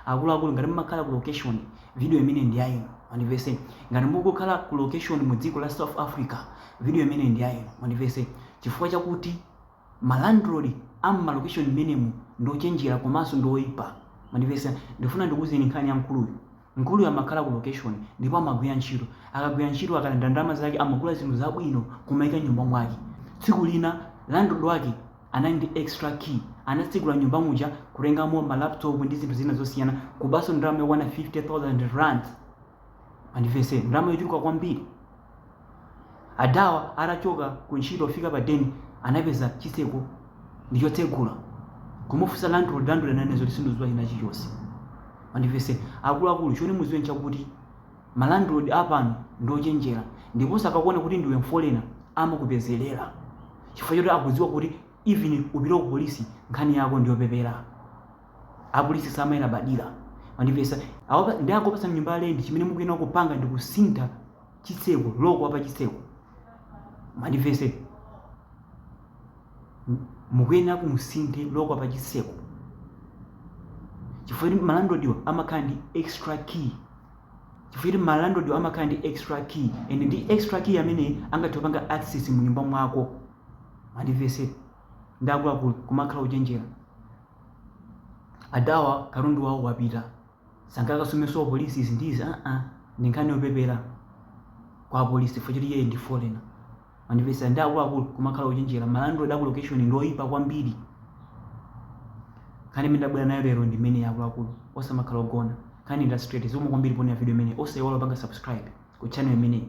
Akuluakulu ngati mumakhala ku location video imeneyi ndi ya inu mwandimvetsa. Ngati mukukhala ku location mu dziko la South Africa video imeneyi ndi ya inu mwandimvetsa. Chifukwa chakuti ma landlord a mma location mmenemu ndi ochenjera komanso ndi oipa mwandimvetsa. Ndifuna ndikuuzeni nkhani ya mkuluyu. Mkuluyu amakhala ku location ndipo amagwira ntchito. Akagwira ntchito akalandira ndalama zake amagula zinthu zabwino kumaika mnyumba mwake. Tsiku lina landlord wake Anali ndi extra key. Anatsegula mnyumba muja, kutengamo ma laptop ndi zinthu zina zosiyana, kubanso ndalama yokwana 50,000 rands. Mwandimvetsa, ndalama yochuluka kwambiri. Adawa atachoka ku ntchito kufika pa den, anapeza chitseko ndi chotsegula. Kumufunsa landlord, landlord ananena zoti sindikudziwa china chilichonse. Mwandimvetsa, akuluakulu choti mudziwe nchakuti, Ma landlord apano ndi ochenjera ndiponso akakuona kuti ndiwe mfolena amakupezelera chifukwa choti akudziwa kuti even upite ku police nkhani yako ndiyopepera apolisi samayilabadira mwandimvetsa Awa ndiye akangokupatsani nyumba ya rent chimene mukuyenera kupanga ndi kusintha chitseko loko wa pa chitseko mwandimvetsa mukuyenera kuti musinthe loko wa pa chitseko chifukwa choti ma landlordwa amakhala ndi extra key Chifukwa choti ma landlordwa amakhala ndi extra key and ndi extra key amene angathe kupanga access mu nyumba mwako. Mwandimvetsa. Ndiye akuluakulu kumakhala ochenjera. Adawa katundu wawo wapita. Sangakasumenso ku police izi ndi izi ah ah. Ndi nkhani yopepera kwa apolisi chifukwa choti iyeyu ndi foreigner. Mwandimvetsa ndiye akuluakulu kumakhala ochenjera, ma landlord aku location ndi oyipa kwambiri. Nkhani imene ndabwera nayo lero ndi imeneyi akuluakulu, osamakhala ogona. Nkhani ndi ya straight, zikomo kwambiri poonera video imeneyi, osayiwala kupanga subscribe ku channel imeneyi.